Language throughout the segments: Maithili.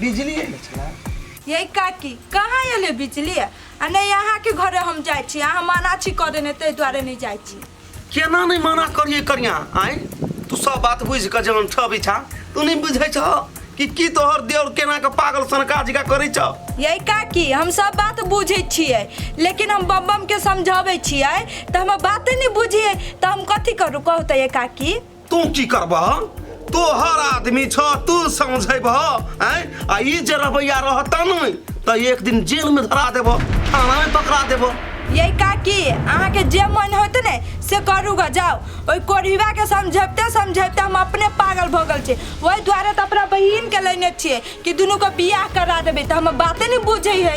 बिजली एले छला यही काकी कहाँ अयलै बिजली आ नहि अहाँके घरे हम जाइ छी अहाँ मना छी कऽ देने ताहि दुआरे नहि जाइ छी केना नहि मना करिए करिया आय तू सब बात बुझि कऽ जहन छ बिछा तू नहि बुझै छ कि की तोहर देवर केना के पागल सनका जिका करै छ यही काकी हम सब बात बुझै छियै लेकिन हम बम बम के समझाबै छियै तऽ हमर बाते नहि बुझियै तऽ हम कथी करू कहू तऽ ये काकी तू की करबह तोहर आदमी छ तू समझेबह आय आ ई जे रवैया रहत ने त एक दिन जेल में धरा देबह थाना में पकड़ा देबह ये काकी अहाँ के जे मन होत ने से करू ग जाओ ओई कोढ़ीवा के समझबते समझबते हम अपने पागल भ गेल छी ओई द्वारे त अपना बहिन के लेने छिए कि दुनू के बियाह करा देबे त हम बाते ने बुझै है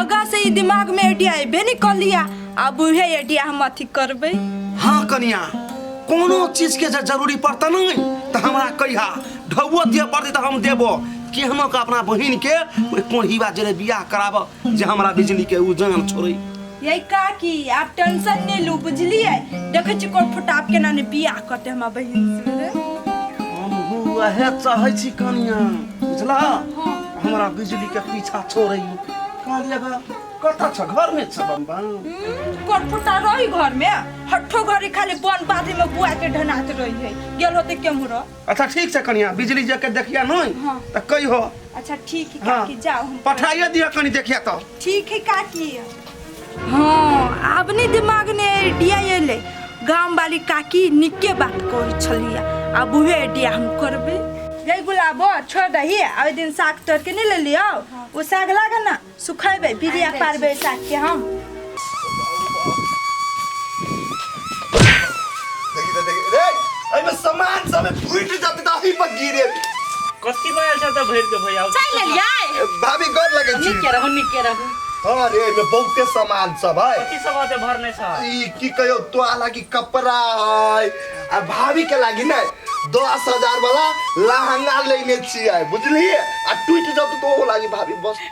आगा से ई दिमाग में आइडिया एबे नहीं कर लिया अब उहे आइडिया हम अथी करबे हाँ कनिया कोनो चीज के जे जरूरी पड़ता नहीं तो हमरा कहिया ढौआ दिया पड़ते तो हम देबो कि हम का अपना बहिन के ओइ कोढ़ीवा जरे बियाह कराबो जे हमरा बिजली के उ जान छोड़े यही का कि आप टेंशन नहीं लू बुझलिए देखे छी कोन फटाप के नाने बियाह करते हमार बहिन से रे। हम उहे चाहे छी कनिया बुझला हमरा बिजली के पीछा छोड़े कहलिए ग कता छ घर में छ बम बम कोटपुटा रही घर में हट्ठो घरी खाली बन बादी में बुआ के ढनात रही है गेल होते केमू रह अच्छा ठीक छै कनिया बिजली जे के देखिया नहीं हाँ। त कही हो अच्छा ठीक है हाँ। काकी जाओ हम पठाइए दिया कनी देखिया तो ठीक है काकी हाँ आब नहीं दिमाग ने आइडिया एले गाम वाली काकी निके बात कहै छलिया आब उहे आइडिया हम करबे रे गुलाबो छोड़ दही आ ओइ दिन साग तोड़ के नहीं ले लियो उ साग लागे ना सुखेबे बिरिया पारबे साग के हम देखी तो देखी रे अरे में सामान सब फूट जाते तो ही पर गिरे कथी बा अच्छा त भरि के भैया चाय ले लिया भाभी गोर लगे छी निके रहू निके रहू हां रे में बहुते सामान सब है कथी सब आते भरने छ ई की कहियो तो लागी कपड़ा है आ भाभी के लागी ना दस हजार वाला लहंगा लेने छियै बुझलिए आ टूट जत तो लागी भाभी बस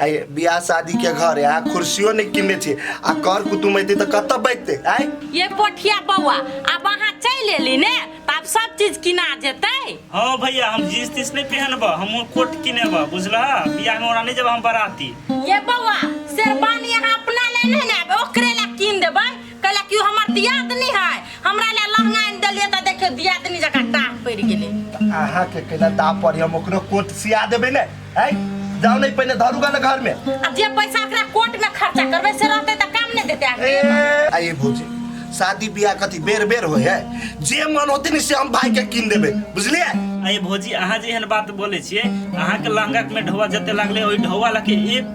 आइ बियाह शादी के घर है आ कुर्सियो नहीं किनने छी आ कर कुटुम अइते त कत बैठते आइ ये पोठिया बौआ अब अहाँ चलि एली ने तऽ आब सब चीज किना जेतै हाँ भैया हम जींस तीस नहीं पहनब हम कोट किनेब बुझला बियाह में ओरा नहीं जब हम बराती ये बौआ शेरवानी अहाँ अपना ले नहीं ने आबे ओकरे ला कीन देबै कैला कि हमर दियादनी है हमरा ले लहंगा आनि देलिए त देखियो दियादनी जका टाह पड़ गेले आहा के केना दा पर हम ओकरो कोट सिया देबे ने है जाओ नहीं पहले धरुगा ना घर में आ जे पैसा एकरा कोर्ट में खर्चा करबे से रहते त काम नहीं देते आगे ए आइए भौजी शादी ब्याह कथी बेर बेर होय है जे मन होते ने से हम भाई के किन देबे बुझलिए अरे भौजी अहाँ जे एहन बात बोले छियै अहाँके लहंगा में ढौआ जते लागले ओहि ढौआ लके एक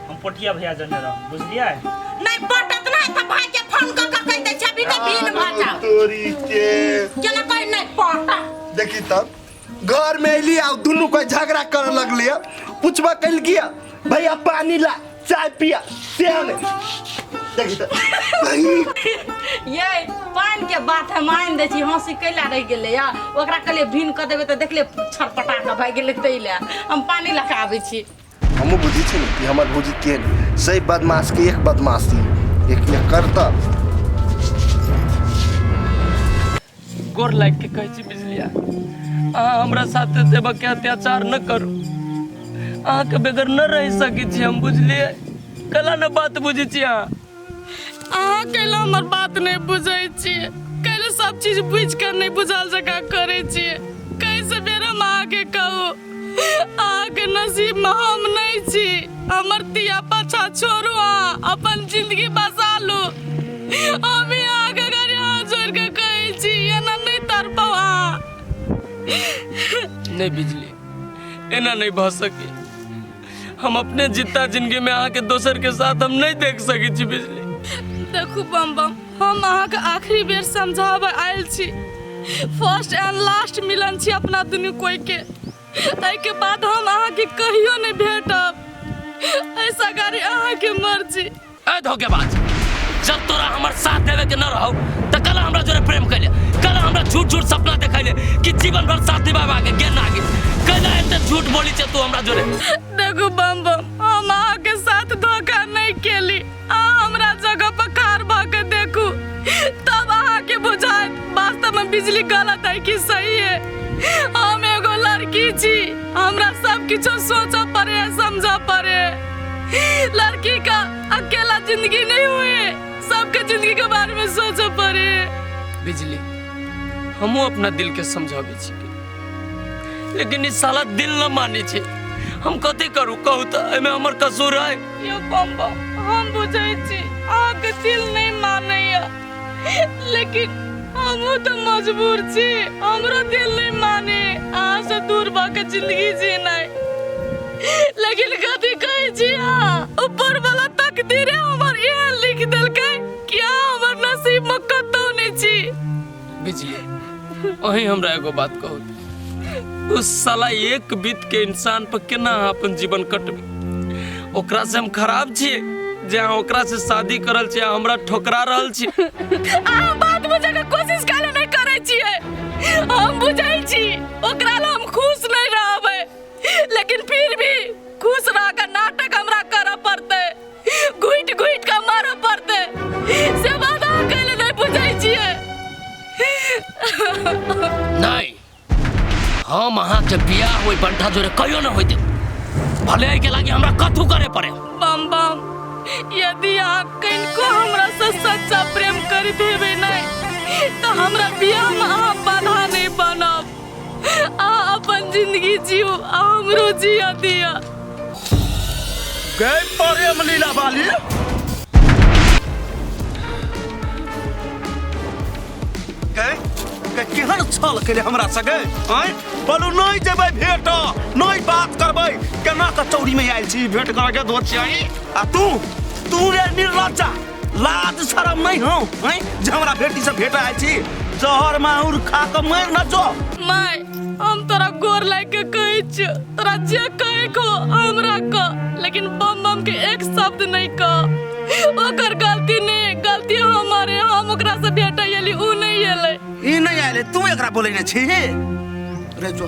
हम पोटिया भैया जने रह बुझलिए नहीं पटत ना त भाई के फोन क क कह दे छबी त भीन भ जा तोरी के केना कह नहीं पटा देखी तब घर में अली आ दुनू कोई झगड़ा कर लगली है पूछबा कल किया भैया पानी ला चाय पिया सेहन देखी तब ये पान के बात है मान दे छी हंसी कैला रह गेले या ओकरा कहले भीन क देबे त देखले छटपटा के भाग गेले तैले हम पानी लगा आबै छी हमहूँ बुझै छी ने कि हमर भौजी के नहि सही बदमाशके एक बदमाशी एक एक करतब गोर लागि के कहै छी बिजलिया अहाँ हमरा साथे देवक के अत्याचार न करू अहाँके बेगर न रहि सकै छी हम बुझलिए कला न बात बुझै छी अहाँ अहाँ कैले हमर बात नहीं बुझे छी कैले सब चीज बुझ कर नहीं बुझल जका करे छी कैसे बेर हम अहाँ के कहू अहाँ के नसीब में हम नहीं छी हमर तिया पाछा छोड़ू अहाँ अपन जिंदगी बसा लू हम ही अहाँ के घर यहाँ जोड़ के कहै छी एना नहीं तरपौ अहाँ नहीं बिजली एना नहीं भऽ सके हम अपने जितना जिंदगी में अहाँ के दोसर के साथ हम नहीं देख सके छी बिजली देखू बम बम हम अहाँके आखिरी बेर समझाबऽ आयल छी फर्स्ट एंड लास्ट मिलन छी अपना दुनू कोई के ताहिके बाद हम अहाँके कहियो नहि भेटब ऐसा गाड़ी अहाँके मर्जी ए धोखेबाज जब तोरा हमर साथ देवे के न रहो त कल हमरा जोरे प्रेम कैले कल हमरा झूठ झूठ सपना देखैले कि जीवन भर साथ निभावा के गेन आगे कैला एते झूठ बोली छे तू हमरा जोरे देखू बम बम हम अहाँ के साथ धोखा नहीं केली अहाँ हमरा जगह पर खार भऽ के देखू तब अहाँ के बुझायत वास्तव में बिजली गलत है कि सही है हम एगो लड़की छी हमरा सब किछो सोचऽ पड़े है समझऽ पड़े है। लड़की का अकेला जिंदगी नहीं हुई है सबके जिंदगी के बारे में सोचऽ पड़े है। बिजली हमो अपना दिल के समझाबे छी लेकिन ई साला दिल न माने छै हम कते करू कहू त एमे हमर कसूर है यो बम बम हम बुझै छी अहाँके दिल नहि मानैया लेकिन हमहूँ तऽ मजबूर छी हमरो दिल नहि माने अहाँसँ दूर भऽ कऽ जिंदगी जीनाइ लेकिन कथी कहै छी अहाँ ऊपर वाला तकदीरे हमर इएह लिख देलकै कि अहाँ हमर नसीबमे कतहु नहि छी बिजली अही हमरा एगो बात कहू उस साला एक बीत के इंसान पर केना अहाँ अपन जीवन कटबे ओकरा से हम खराब छिए जे अहाँ ओकरा से शादी करल छिए अहाँ हमरा ठोकरा रहल छी अहाँ बात बुझे के कोशिश काहे नहीं करे छिए हम बुझाई छी ओकरा ला हम खुश नहीं रहबे लेकिन फिर भी खुश रह के नाटक हमरा करे पड़ते घुटि घुटि कऽ मारऽ पड़तै से बात अहाँ कैले नहि बुझै छियै नहि हम अहाँके बियाह ओहि बंठा जोरे कहियो नहि होइते भले एहिके लागि हमरा कथू करे पड़े बम बम यदि अहाँ कनिको हमरा से सच्चा प्रेम करैत हेबै नहि तऽ हमरा बियाहमे अहाँ बाधा नहि बनब अहाँ अपन जिंदगी जियो आ हमरो जिया दिया गए प्रेम लीला वाली गए गए केहन छल केले हमरा सगे आय बोलू नहीं जेबै भेट नहीं बात करबै केना कचौड़ी में आयल छी भेट करके दोस्त छियै आ तू तू रे निर्लज्जा लाज शरम नहीं हो हैं जे हमरा बेटी से भेटा आयल छी जहर माहुर खा के मर न जो माय हम तोरा गोर लाग के कहै छियो तोरा जे कहै को हमरा क लेकिन बम बम के एक शब्द नहीं क ओकर गलती नहीं गलती हमारे हम ओकरा से भेटै एली ऊ नहीं एलै ई नहीं आयल तू एकरा बोले न छी रे जो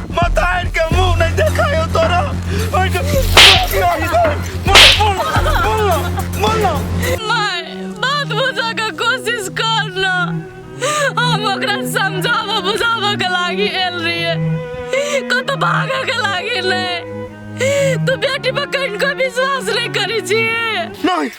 माथा आनि के मुंह नहीं देखायो तोरा ओइ के क्या ही दे मोल मोल मोल ना माय बात बुझा के कोशिश कर ना हम ओकरा समझाबो बुझाबो के लागी आयल रहिए कतौ भागे के लागी नहीं तू बेटी पर कहीं कोई विश्वास नहीं करी छी नहीं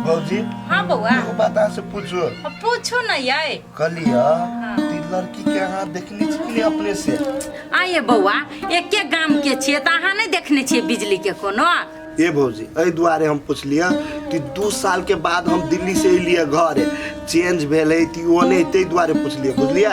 भौजी हाँ बौआ एगो बात अहाँ से पूछो अब पूछू न ये कहलिया हाँ। ती लड़की के अहाँ देखने छी कि नहीं अपने से आइए बौआ एके गाम के छिए तऽ अहाँ नहि देखने छिए बिजली के कोनो ए भौजी एहि दुआरे हम पुछलिया कि दू साल के बाद हम दिल्ली से एलिया घर चेंज भेल है ती ओ नहीं ताहि दुआरे पुछलिया बुझलिया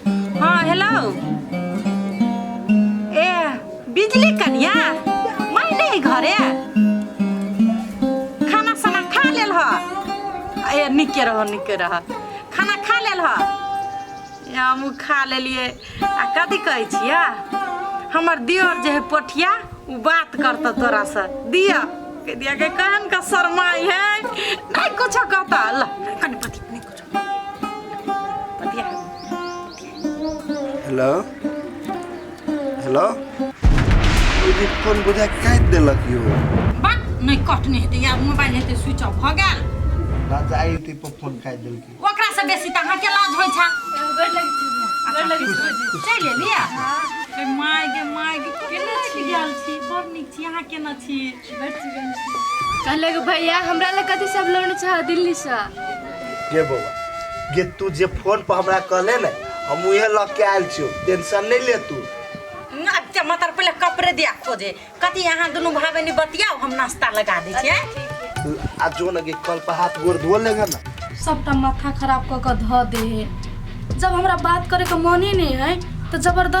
हँ हेलो ए बिजली कनिया मैं नहीं घरे खाना साना खा लेल ह ए निके रह निके रह खाना खा लेल ह ए, हमहूँ खा लेलिए आ कथी कहै छियै हमर दियर जे है पोठिया ओ बात करतऽ तोरा से दिया कह दिया के कहन का शर्माई है नहीं कुछो कहता ल कनि पति नहीं कुछो हेलो हेलो दीदी फोन बुझा काटि देलक यौ बात नहि कटने हेतै या मोबाइल हेतै स्विच ऑफ भऽ गेल राजा आई टी पर फोन काटि देलकै ओकरा से बेसी तऽ अहाँके लाज होइ छै चलि एलियै गे माय गे माय गे केना छी गेल छी बड़ नीक छी अहाँ केना छी कहलक भैया हमरा लग कथी सब लोन छ दिल्ली से गे बौआ गे तू जे फोन पर हमरा कहले ने हम उहे लऽ के आयल छियो टेंशन नहीं ले तू ना ते मतर पहले कपड़े दिया तो जे कथी यहाँ दोनों भाई बहनी बतियाओ हम नाश्ता लगा दी छियै आ जो न गे कल पर हाथ गोड़ धो लेगा ना सबटा माथा खराब कऽ कऽ धऽ दे है जब हमरा बात करे के मने नहीं है तो जबरदस्त